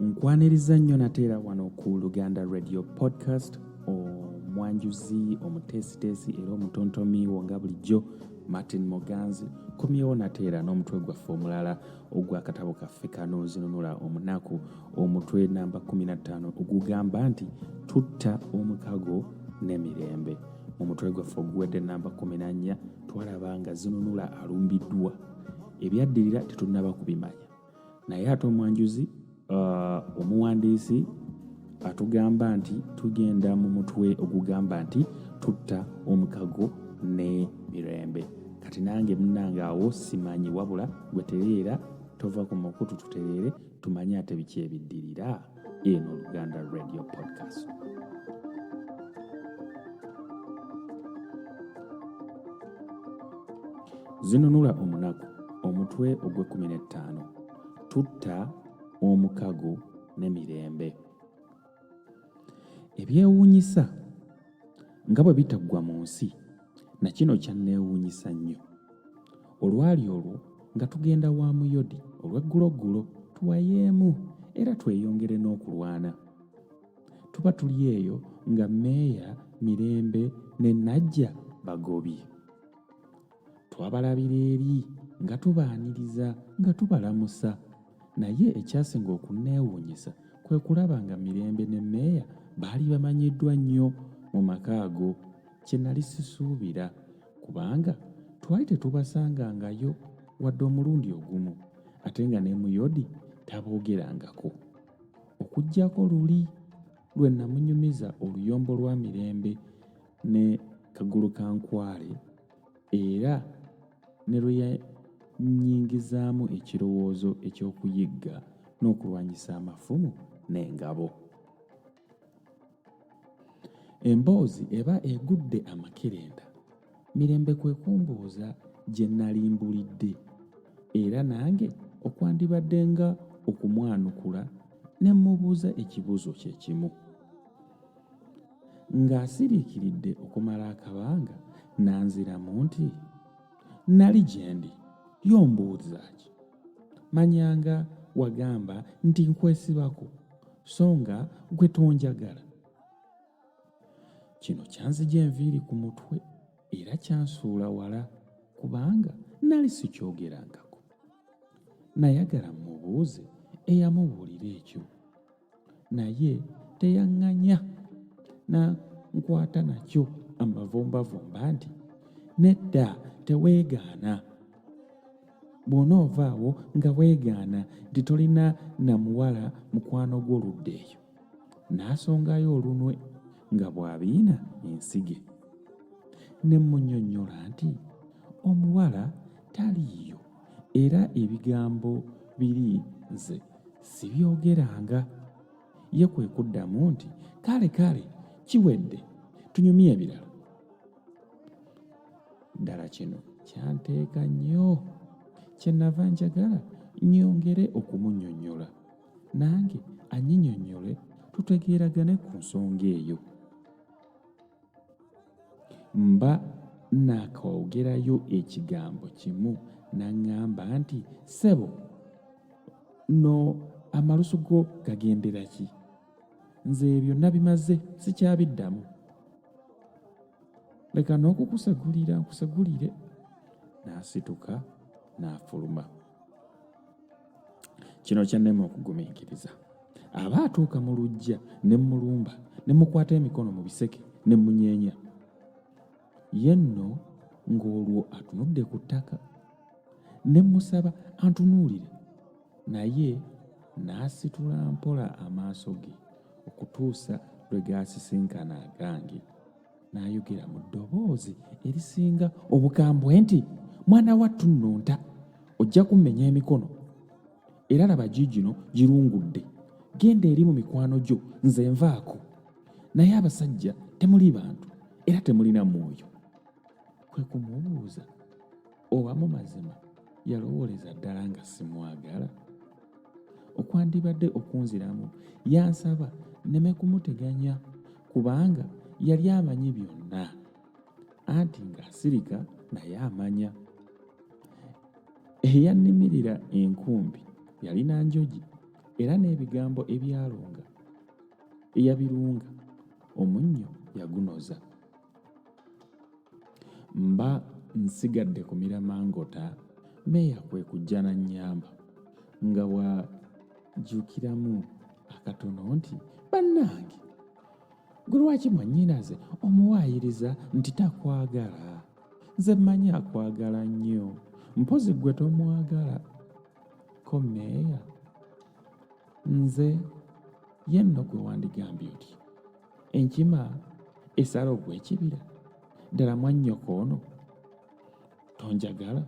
nkwaniriza nnyo nateera wano ku luganda radio podcast omwanjuzi omuteesiteesi era omutontomi wo nga bulijjo martin moganzi komyewo nateera n'omutwe gwaffe omulala ogwakatabo kaffe kanozinunula omunaku omutwe namba 15 ogugamba nti tutta omukago n'emirembe mu mutwe gwaffe oguwedde namba 14 twalaba nga zinunula alumbiddwa ebyaddirira tetunnaba kubimanya naye ate omwanjuzi uh, omuwandiisi atugamba nti tugenda mu mutwe ogugamba nti tutta omukago ne mirembe kati nange munange awo simanyi wabula gwetereera tova ku mukutu tutereere tumanye ate biki ebiddirira eno oluganda radio podcast zinunula omunaku omutwe ogw'ekumi n'ettaano tutta omukago ne mirembe ebyewuunyisa nga bwe bitaggwa mu nsi na kino kyanneewuunyisa nnyo olwali olwo nga tugenda wa muyodi olw'egguloggulo tuwayeemu era tweyongere n'okulwana tuba tuli eyo nga meeya mirembe ne najja bagobye twabalabira eri nga tubaaniriza nga tubalamusa naye ekyasinga okunneewuunyisa kwe kulaba nga mirembe ne meeya baali bamanyiddwa nnyo mu maka ago kye nali sisuubira kubanga twali tetubasangangayo wadde omulundi ogumu ate nga ne muyodi taboogerangako okuggyako luli lwe namunyumiza oluyombo lwa mirembe ne kagulu ka nkwale era ne lwe yannyingizaamu ekirowoozo eky'okuyigga n'okulwanyisa amafumu n'engabo emboozi eba egudde amakerenda mirembe kwe kumbuuza gye nali mbulidde era nange okwandibadde nga okumwanukula ne mmubuuza ekibuuzo kye kimu Ng'asiriikiridde okumala akabanga n'anziramu nti, Nnali gye ndi, yo mbuuza ki? Manyanga wagamba nti nkwesibako so nga gwe tonjagala. Kino kyanzija enviiri ku mutwe era kyansuula wala kubanga nali sikyogerangako. Nayagala mmubuuze eyamubuulira ekyo. naye teyaŋŋanya na nkwata nakyo amavumbavumba nti nedda teweegaana bw'onoovaawo nga weegaana nti tolina na muwala mukwano gw'oludda eyo n'asongayo olunwe nga bw'abiina ensige ne mmunyonnyola nti omuwala taliiyo era ebigambo biri nze sibyogeranga ye kwe kuddamu nti kale kale kiwedde tunyumye ebirala ddala kino kyanteeka nnyo kyenava njagala nyongere okumunyonyola nange anyinyonyole tutegeeragane ku nsonga eyo mba naakaogerayo ekigambo kimu naŋŋamba nti ssebo no amalusu go gagendera ki nze ebyo nabimaze sikyabiddamu leka n'okukusegulira nkusegulire n'asituka n'afuluma na kino kyannema okugumiikiriza aba atuuka mu lujja ne mulumba ne mukwata emikono mu biseke ne munyeenya ye nno ng'olwo atunudde ku ttaka ne musaba antunuulire naye n'asitula mpola amaaso ge okutuusa lwe gaasisinkana agange n'ayogera mu ddoboozi erisinga obukambwe nti mwana wattu nno nta ojja kummenya emikono era laba giigino girungudde genda eri mu mikwano gyo nze nvaako naye abasajja temuli bantu era temulina mwoyo kwe kumubuuza Oba mu mazima yalowooleza ddala nga simwagala? Okwandibadde okunziramu yansaba nneme kumuteganya kubanga yali amanyi byonna anti ng'asirika naye amanya. Eyannimirira enkumbi yalina njogi era n'ebigambo ebyalunga eyabirunga omunnyo yagunoza. mba nsigadde ku miramangota meeya kwe kujja na nnyamba nga wajukiramu akatono nti bannange gwe lwaki mwannyinaze omuwaayiriza nti takwagala nze mmanyi akwagala nnyo mpozi gwe tomwagala ko meeya nze yenno gwe wandigambye oti enkima esala ogw'ekibira ddala mwannyoko ono tonjagala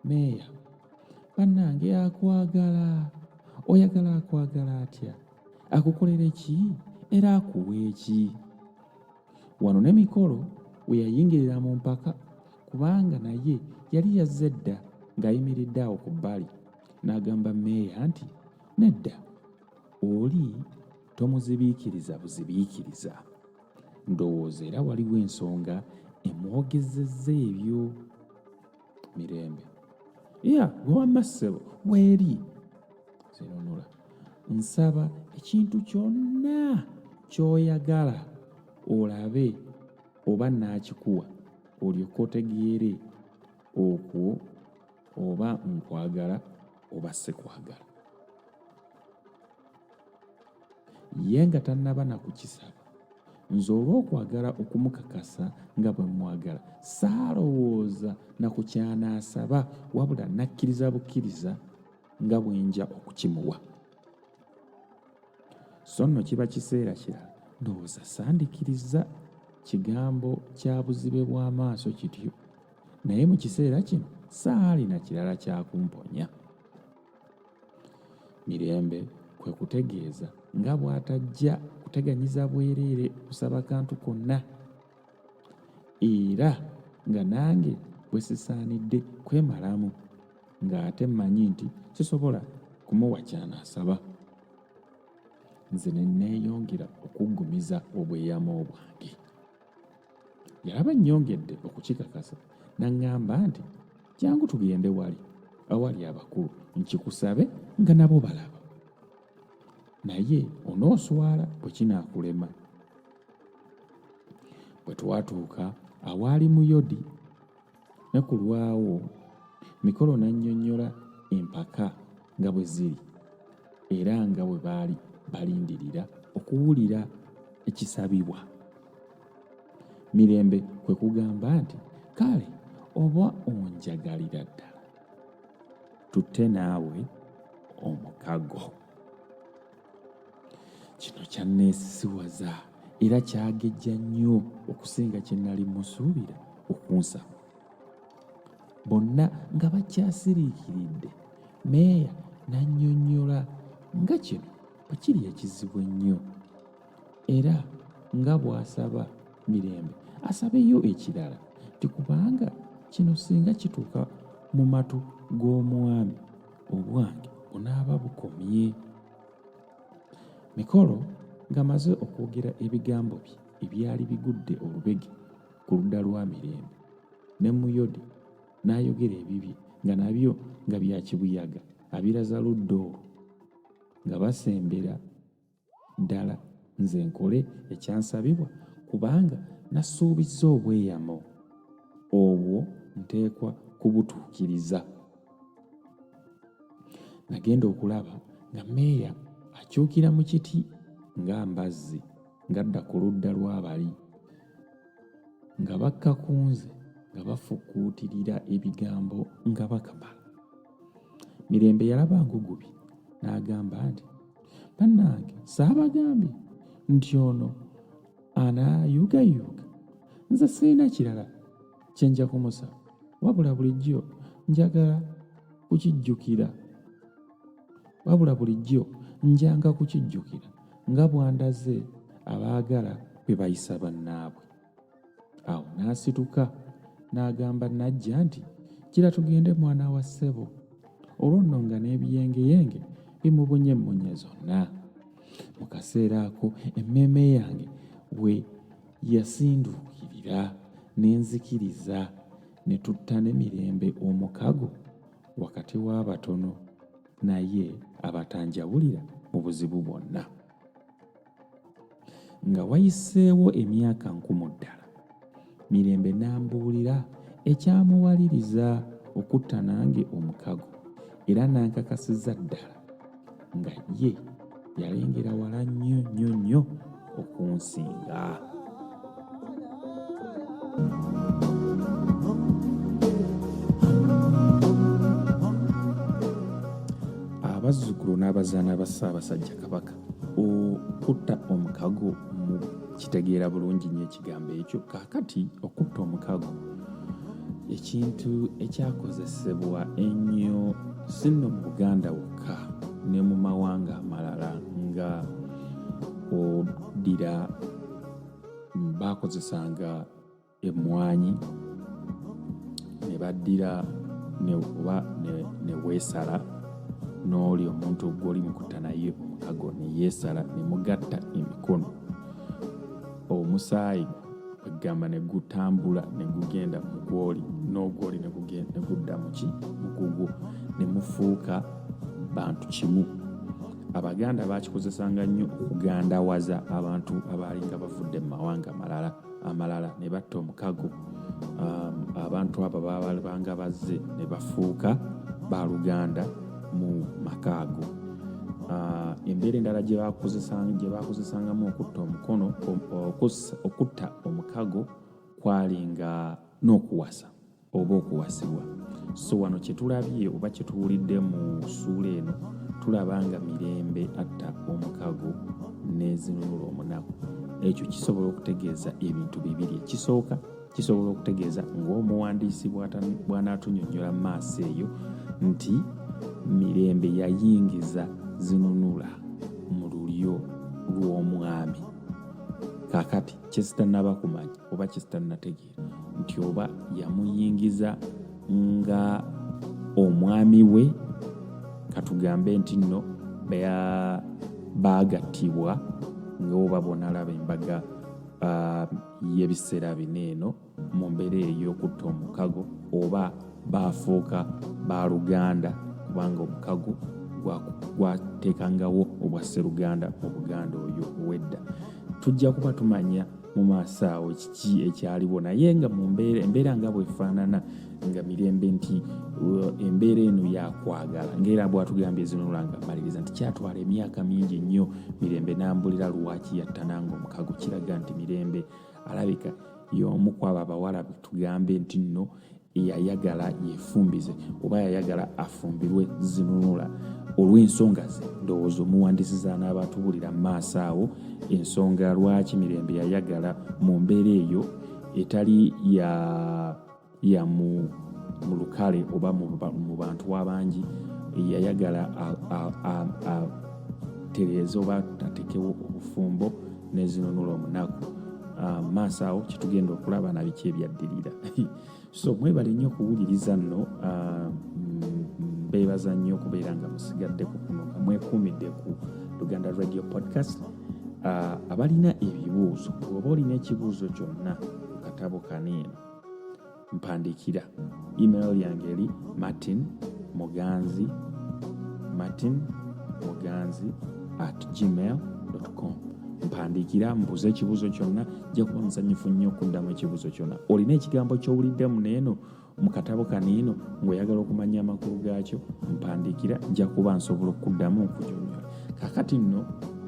meeya bannange akwagala oyagala akwagala atya akukolere ki era akuwa eki wano ne mikolo we yayingirira mu mpaka kubanga naye yali yazze dda ng'ayimiridde awo ku bbali n'agamba meeya nti nedda Oli tomuzibiikiriza buzibiikiriza. Ndowooza era waliwo ensonga emwogezezza ebyo mirembe. Iya, gwe wamma ssebo, weeri. Zinunula. Nsaba ekintu kyonna ky'oyagala olabe oba naakikuwa olyoke otegeere okwo oba nkwagala oba sikwagala ye nga tannaba na kukisaba nze olw'okwagala okumukakasa nga bwe mmwagala saalowooza na ku kyanaasaba wabula nakkiriza bukkiriza nga bwe nja okukimuwa so nno kiba kiseera kirala ndowooza sandikirizza kigambo kya buzibe bw'amaaso kityo naye mu kiseera kino saalina kirala kyakumponya mirembe kwe kutegeeza nga bw'atajja kuteganyiza bwereere kusaba kantu konna era nga nange bwe sisaanidde kwemalamu ng'ate mmanyi nti sisobola kumuwa kyanaasaba nze ne neeyongera okuggumiza obweyamo bwange yalaba nnyongedde okukikakasa n'aŋŋamba nti jangu tugende wali awali abakulu nkikusabe nga nabo balaba naye onooswala bwe kinaakulema bwe twatuuka awaali muyodi Nakulwawo mikolo n'annyonnyola empaka nga bwe ziri era nga bwe baali balindirira okuwulira ekisabibwa. Mirembe kwe kugamba nti, Kale oba onjagalira ddala, tutte naawe omukago. kino kyanneesisiwaza era kyagejja nnyo okusinga kye nnali musuubira okunsaba bonna nga bakyasiriikiridde meeya n'annyonnyola nga kino bwe kiri ekizibu ennyo era nga bw'asaba mirembe asabeyo ekirala nti kubanga kino singa kituuka mu matu g'omwami obwange bunaaba bukomye mikolo ng'amaze okwogera ebigambo bye ebyali bigudde olubege ku ludda lwa mirembe ne muyodi n'ayogera ebibye nga nabyo nga bya kibuyaga abiraza ludda olwo nga basembera Ddala nze nkole ekyansabibwa kubanga nasuubizza obweyamo, obwo nteekwa kubutuukiriza. Nagenda okulaba nga meeya akyukira mu kiti nga mbazzi ng'adda ku ludda lw'abali nga bakka ku nze nga bafukuutirira ebigambo nga bakama. Mirembe yalaba ngugubi n'agamba nti. bannange saabagambye nti ono anayugayuga nze sirina kirala kye nja kumusaba wabula bulijjo njagala kukijjukira wabula bulijjo njanga kukijjukira nga bwandaze abaagala bwe bayisa bannaabwe awo n'asituka n'agamba najja nti kira tugende mwana wa ssebo olwo nno nga n'ebiyengeyenge bimubunye emmunye zonna mu kaseera ako emmeeme yange we yasinduukirira n'enzikiriza ne tutta ne mirembe omukago wakati w'abatono naye abatanjawulira mu buzibu bwonna Nga wayiseewo emyaka nkumu ddala, Mirembe n'ambuulira ekyamuwaliriza okutta nange omukago era n'ankakasiza ddala nga ye yalengera wala nnyo nnyo nnyo okunsinga. abazzukulu n'abazaana ba ssaabasajja kabaka okutta omukago kitegeera bulungi nyo ekigambo ekyo kakati okutta omukago ekintu ekyakozesebwa ennyo sinno mu buganda wokka ne mu mawanga amalala nga oddira bakozesanga emmwanyi ne baddira oba ne weesala n'oli omuntu gw'oli mukutta naye omukago ne yeesala ne mugatta emikono omusaayi egamba ne gutambula ne gugenda mu gwoli n'ogwoli ne gudda muki mukugwo ne mufuuka bantu kimu abaganda bakikozesanga nnyo okugandawaza abantu abaalinga bavudde mu mawanga malala amalala ne batta omukago um, abantu abo babalibanga bazze ne bafuuka baluganda mu maka ago uh, embeera endala gye bakozesangamu okutta omukono okutta omukago kwali nga n'okuwasa oba okuwasibwa so wano kyetulabye oba kyetuwulidde mu suula eno tulaba nga mirembe atta omukago nezinunula omunaku ekyo kisobola okutegeeza ebintu bibiri ekisooka kisobola okutegeeza ngaomuwandiisi bwanatunyonyola mu maaso eyo nti mirembe yayingiza zinunula mu lulyo lw'omwami kakati kyezitanabakumanya oba kyezitanategeera nti oba yamuyingiza nga omwami we katugambe nti nno baagattibwa nga oba bonalaba embaga uh, y'ebiseera bino eno mu mbeera ey'okutta omukago oba baafuuka baaluganda kubanga omukago gwateekangawo obwa sseruganda mu buganda oyo owedda tujja kuba tumanya mu maaso awo kiki ekyaliwo naye nga mu mbeera embeera nga bwefaanana nga mirembe nti uh, embeera eno yakwagala ngaera bwatugambye ezinolanga maliriza nti kyatwala emyaka mingi nnyo mirembe nambulira lwaki yattananga omukago kiraga nti mirembe alabika y'omu kwabo abawala betugambe nti nno yayagala yefumbize oba yayagala afumbirwe zinunula olw'ensonga ze ndowooza omuwandisiza n'abatubulira mu maaso awo ensonga lwaki mirembe yayagala mu mbeera eyo etali ya ya mu mu lukale oba mu bantu abangi yayagala tereeza oba atekewo obufumbo nezinunula omunaku ah, maaso awo kyetugenda okulaba nabiki ebyaddirira so mwebale nnyo okuwuliriza nno ah, mbeebaza nnyo okubeera nga musigadde ku kuno nga mwekuumidde ku luganda radio podcast ah, abalina ebibuuzo oba olina ekibuuzo kyonna katabo kaniino mpandiikira email yange eri martin muganzi martin muganzi at gmail com mpandiikira mbuuza ekibuuzo kyonna jja kuba musanyufu nnyo okuddamu ekibuuzo kyonna olina ekigambo kyowuliddemu neeno mu katabo kaniino ng'oyagala okumanya amakulu gaakyo mpandiikira nja kuba nsobola okuddamu nkunyonyola kakati nno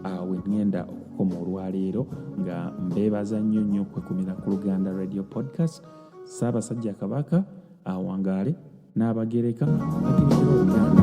awe ŋŋenda okukoma olwaleero nga mbeebaza nnyo nnyo okwekumira ku luganda radio podcast ssaabasajja kabaka awangaale n'abagereka agerekera oluganda